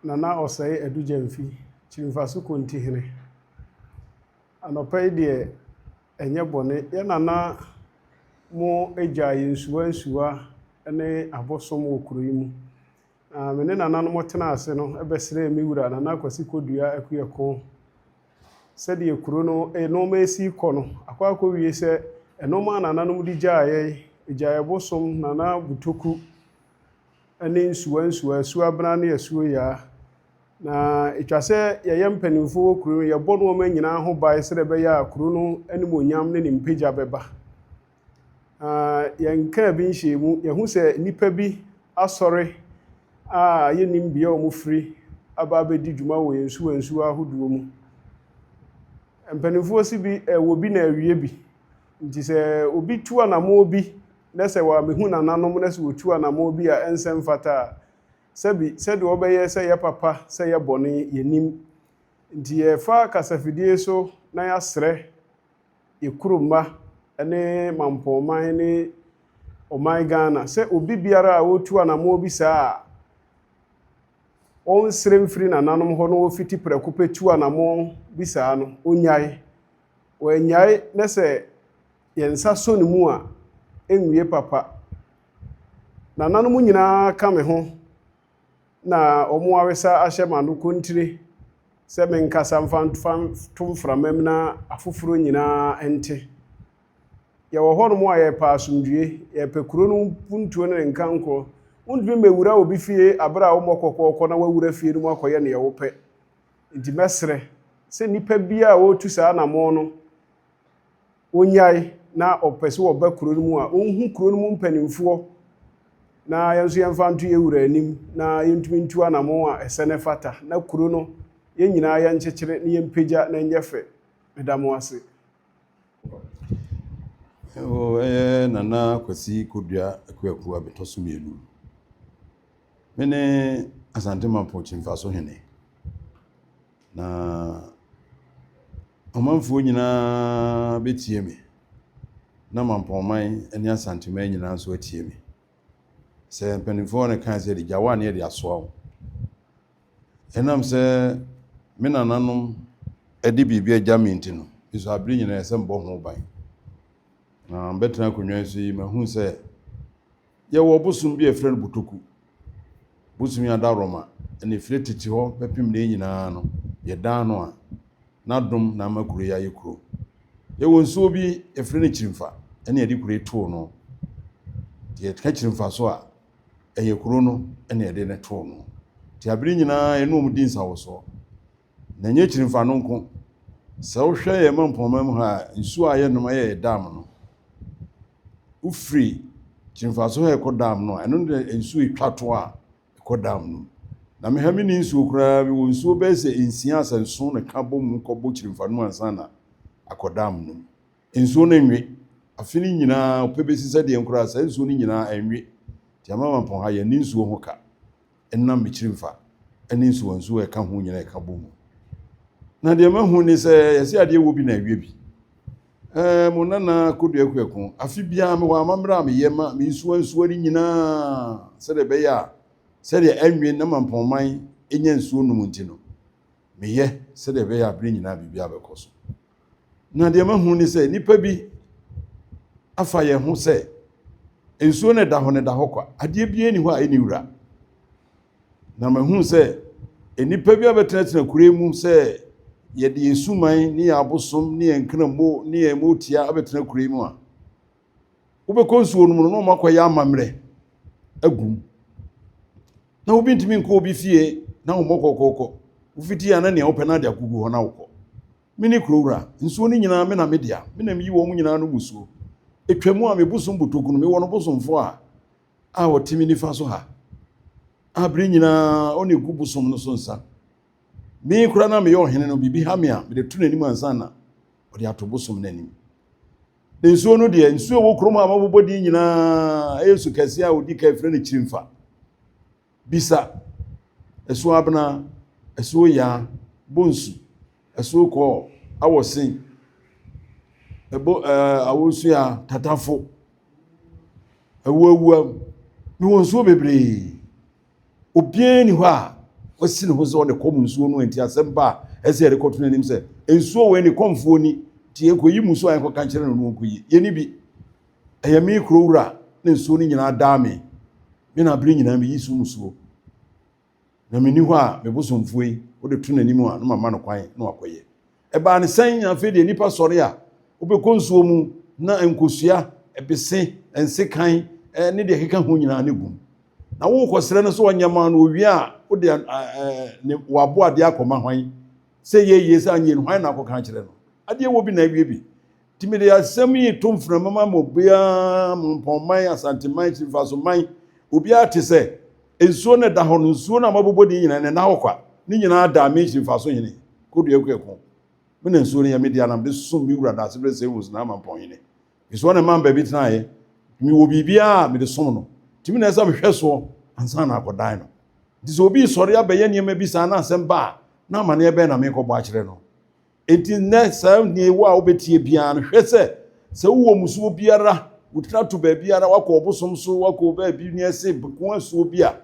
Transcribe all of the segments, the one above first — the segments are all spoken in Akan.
Na na ɔsɛe Adu-Gyamfi, Kyirimfaso Konti hene. Anɔpa yi deɛ ɛnyɛ bɔne. Yɛn nana mo agyaa yɛn nsuwa nsuwa ne abosom wɔ kuro yi mu. Na me ne nananom tenaa ase no bɛsrɛɛ me wura Nana Kwasi Kodua Akuekon sɛ deɛ kuro no nnoɔma resi rekɔ no, akɔ akɔwie sɛ nnoɔma a nananom de gyaa yɛn, Agyae Bosom, Nana Butoku, ne nsuwansuwa, asuabena ne asuoyaa. Na etwa sɛ yɛyɛ mpanimfoɔ wɔ kuro no mu, yɛbɔ nnoɔma nyinaa ho ban sɛdeɛ ɛbɛyɛ a kuro no animuonyam ne ne mpagya bɛba. Na yɛnkaa bi nhyɛɛ mu, yɛhu sɛ nnipa bi asɔre a yɛnnim bea a wɔfiri aba abɛdi dwuma wɔ yɛn nsuwansuwa ahodoɔ mu. Mpanimfoɔ se bi, wɔ bi na awie bi. Nti sɛ obi tu anammɔn bi, na sɛ wɔammehu nananom na sɛ wɔtu anammɔn bi a ɛnsɛ mfata a, sɛbi, sɛdeɛ wɔbɛyɛ sɛ yɛ papa sɛ yɛ bɔne, yɛnnim. Nti yɛfa kasafidie so na yɛasrɛ yɛ kuro mma ne mampɔnman ne ɔman Ghana sɛ obi biara a ɔretu anammɔn bi saa a, ɔnsrɛ mfiri nananom hɔ na ɔfiti prɛko pɛ tu anammɔn bi saa no, ɔnnyae. Wannyae na sɛ Yɛn nsa sɔ ne mu a, ɛnwie papa. Nananom nyinaa ka me ho na wɔn awesa ahyɛ m'ano kontire sɛ menkasa mfa nto mframam na afoforɔ nyinaa nte. Yɛwɔ hɔnom a yɛrepɛ asomdwoeɛ, yɛrepɛ kuro no mpuntuo ne ne nkankorɔ. Wontumi mmɛwura obi fie berɛ a wommɔ kɔkɔ kɔ na woawura fie no mu akɔyɛ deɛ wopɛ. Enti mɛsrɛ sɛ nnipa biara a wɔretu saa anammɔn no, wɔnyae na wɔpɛ sɛ wɔba kuro no mu a, wɔnhu kuro no mu mpanimfoɔ na yɛn nso yɛmfa nto yɛn wura anim na yɛntumi ntu anamon a ɛsɛ na ɛfata na kuro no yɛn nyinaa yɛnkyekyere na yɛmpagya na ɛnyɛ fɛ. Meda mo ase. Ɛwɔ ɛyɛ Nana Kwasi Kodua Akuaku abɛtɔ so mmienu. Mene Asante Mampɔkyi mfaso hene. Na ɔmanfoɔ nyina ara bɛtie me, na mampɔnman ne Asanteman nyina nso atie me. Sɛ mpaninfoɔ no kae sɛ, Gya wo a ne yɛde asoa wo. Ɛnam sɛ me nananom de biribi agya me nti no, me nso abere nyina ɛsɛ sɛ mebɔ ho ban. Na mɛtena akonnwa yi so yi, mahunu sɛ. Yɛwɔ ɔbosom bi a yɛfrɛ no Botoku. Bosom yi adaworoma na efiri tete hɔ bɛpem nnɛ yi nyinaa no, yɛdan no a, n'adom na ama kuro yi ayɛ kuro. Yɛwɔ nsuo bi, yɛfrɛ no Kyirimfa na yɛde kuro yi too no. Nti yɛka Kyirimfa so a, ɛyɛ kuro no na yɛde no too no. Nti abere nyinaa yɛne wɔn di nsawosoɔ. na ɛnyɛ akyiri mfano nko. Sɛ wohwɛ yɛn mpɔmma mu ha a, nsuo a yɛnom yɛ yɛn dam no. Wofiri Kyirmfaso ha ɛkɔ dam no a, ɛno na nsuo ɛtwa to a ɛkɔ dam no mu. Na me ha me ni nsuo koraa, me wɔ nsuo bɛyɛ sɛ nsia sɛ nson na ɛka bɔ mu kɔbɔ Kyirmfa no mu ansa na akɔ dam no mu. Nsuo no nwe. Afe no nyinaa, ɔpɛ bɛsi sɛdeɛ nkoraa saa nsuo no nyinaa ɛnwe. Nti Amamampɔn ha yɛnni nsuo ho ka. ɛnam me kyirimfa ne nsuwansuwa a ɛka ho nyinaa ka bɔ mu. Na deɛ mahu ne sɛ yɛse adeɛ wɔ bi na awie bi. Ɛɛ mo nana Kodua Kuaku, afe biara mewɔ amammerɛ a meyɛ ma me nsuwansuwa no nyinaa sɛdeɛ ɛbɛyɛ a sɛdeɛ anwe na Mampɔnman nya nsuo nom nti no, meyɛ sɛdeɛ ɛbɛyɛ a bere nyinaa biribiara bɛkɔ so. Na deɛ mahunu ne sɛ nnipa bi afa yɛn ho sɛ nsuo no ɛda hɔ no ɛda hɔ kwa, adeɛ biara nni hɔ a ɛnni wura. Na mahunu sɛ nnipa bi abɛtenatena kure mu sɛ yɛde yɛn suman ne yɛn abosom ne yɛn nkramo ne yɛn motia abɛtena kure mu a, wobɛkɔ nsuo no mu no na wɔakɔyɛ amammerɛ agu mu na wobi ntumi nkɔ obi fie na wɔmmɔ kɔkɔɔkɔ wofiti a na nea wopɛ no ade akogu hɔ na wokɔ me ne kuro wura nsuo no nyinaa me na me dea me na meyi wɔn nyinaa no musuo ɛtwa mu a me bosom botoku no mewɔ no bosomfoɔ a a ɔte me nifa so ha a bere nyinaa ɔna ɛgu bosom no so nsa me kora na meyɛ ɔhene no biribi ha me a mede to n'anim ansa na ɔde ato bosom no anim Na nsuo no deɛ, nsuo ɛwɔ kurom a wɔbobɔ din nyinaa ɛyɛ su kɛseɛ a ɔdi kan frɛ no Kyirimfa, Bisa, Asuo Abena, Asuo Yaa, Bonsu, Asuo Kɔɔ, Awɔsen, ɛbo ɛɛ Awosua, Tatafo, Awuawuam, mewɔ nsuo bebree. Obiara nni hɔ a wasi ne ho sɛ ɔde kɔm nsuo no nti asɛm pa a ɛsɛ yɛde kɔto n'anim sɛ nsuo wɔ ne kɔmfoɔ ni nti yɛkɔyi mu so a yɛnkɔka nkyerɛ no no nkɔyi yɛni bi ɛyɛ me kuro wura na nsuo no nyinaa daa me me na abere nyinaa meyi so musuo na menni hɔ a mebosomfoɔ yi wode to n'anim a na mama no kwan na wakɔyɛ Ɛbaa no sɛn? Afei deɛ nnipa sɔre a, wobɛkɔ nsuo mu na nkosua, ɛbese, nsekan ne deɛ ɛkeka ho nyinaa no gum. Na worekɔsrɛ no sɛ ɔnyɛ ma no, owie a, wode ne waboadeɛ akɔma hwan? Sɛ ɛyɛ yie, sɛ anyɛ yie no, hwan na akɔka akyerɛ no? Adeɛ wɔ bi na awie bi. Nti mede asɛm yi reto mframa ma mo biara, mo Mpɔnman, Asanteman, Kyirifasoman, obiara te sɛ, nsuo no da hɔ no, nsuo no a moabobɔ din nyinaa no, ɛnna hɔ kwa. Ne nyinaa daa me Kyirifaso hene, Kodua Kuako. Me na nsuo no yɛ me dea na mede som me wura Daasebrɛ Sewus na Amampɔn hene. Nsuo no na ɛmaa me baabi tenaeɛ. Mewɔ biribiara a mede som no, nti me na ɛsɛ sɛ mehwɛ soɔ ansa na akɔdan no. Nti sɛ obi resɔre abɛyɛ nneɛma bi saa na asɛm ba a, na amanneɛ bɛn na merekɔbɔ akyerɛ no? Enti nnɛ, saa nea ɛwɔ a wobɛtie biara no, hwɛ sɛ, sɛ wowɔ mmusuo biara, wotena to baabiara, woakɔ ɔbosom so, woakɔ baabi ne ɛse bɛko asuo bi a,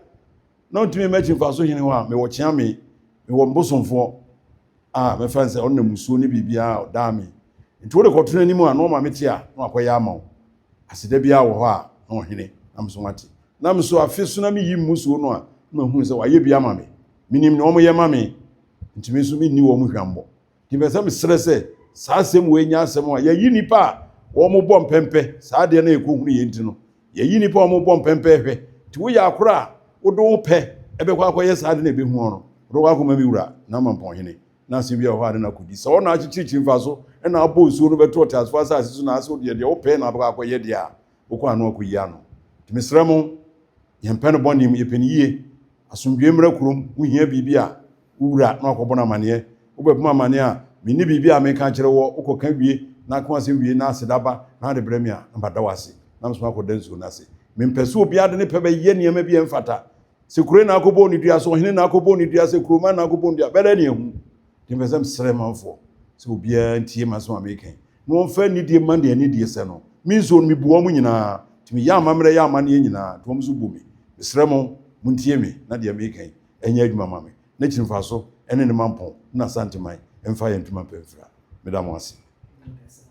na wontumi mma akyi mfaso hene hɔ a, mewɔ kyea me, mewɔ me bosomfoɔ a mɛfa no sɛ ɔno na mmusuo ne biribiara a ɔdaa me. Enti wode kɔto n'anim a, na wama mete a, na wakɔyɛ ama wo. Aseda biara wɔ hɔ a, na ɔhene, na me nso mate. Na me nso, afe so na meyi mmusuo no a, na mahunu sɛ wayɛ bi ama me. Menim nea wɔyɛ ma me. ntumi nso mi nni wɔn hwammɔ nti mɛ sɛ mesrɛ sɛ saa asɛm wei nyɛ asɛm a yɛyi nnipa a wɔn bɔ mpɛmpɛ saa adeɛ no a ɛkɔ hunu yɛn nti no yɛyi nnipa a wɔn bɔ mpɛmpɛ hwɛ nti woyɛ akora a wode wo pɛ ɛbɛkɔ akɔyɛ saa ade na ɛbɛhu ɔno wode kɔ akɔma mi wura na ama mpɔnhene na asɛm bi a hɔ ade na akɔdi sɛ ɔna akyekyirikyiri mfa so ɛna abɔ nsuo no bɛto ɔteasefoɔ asase so na asɛ wodeɛ deɛ wopɛ na abɛkɔ akɔyɛ deɛ a wokɔ ano akɔyi ano nti mesrɛ mo yɛmpɛ no bɔne mu yɛpɛ no yie Asomdwoe mmra kurom, wuhia biribi a, wowura na wɔakɔbɔ no amanneɛ. Wobɛbɔ me amanneɛ a, minni biribi a meka akyerɛ wo ɔ, wokɔka wie, na aka w'asɛm wie, na aseda ba, na wode brɛ me a, na mada wo ase, na mesoma akɔda nsuo no ase. Mempɛ sɛ obiara de ne pɛ bɛyɛ nneɛma bi a ɛmfata. Sɛ kuro na akɔbɔ onidua, sɛ ɔhene na akɔbɔ onidua, sɛ kuroman na akɔbɔ onidua, bɛda ne ahu. Nti mepɛ sɛ mesrɛ manfoɔ sɛ obiara ntie m'asɛm a mereka yi, na wɔmfa anidie mma nea anidie sɛ no. Me nso, mebu wɔn nyinaa, nti meyɛ amammerɛ yɛ amanneɛ nyinaa, nti wɔn nso bu me. Mesrɛ mo, montie me na deɛ mereka yi nyɛ adwuma mma me, na akyiri mfaso ne ne mampɔn ne n'Asanteman mfa yɛn ntoma mpa mfira. Meda mo ase.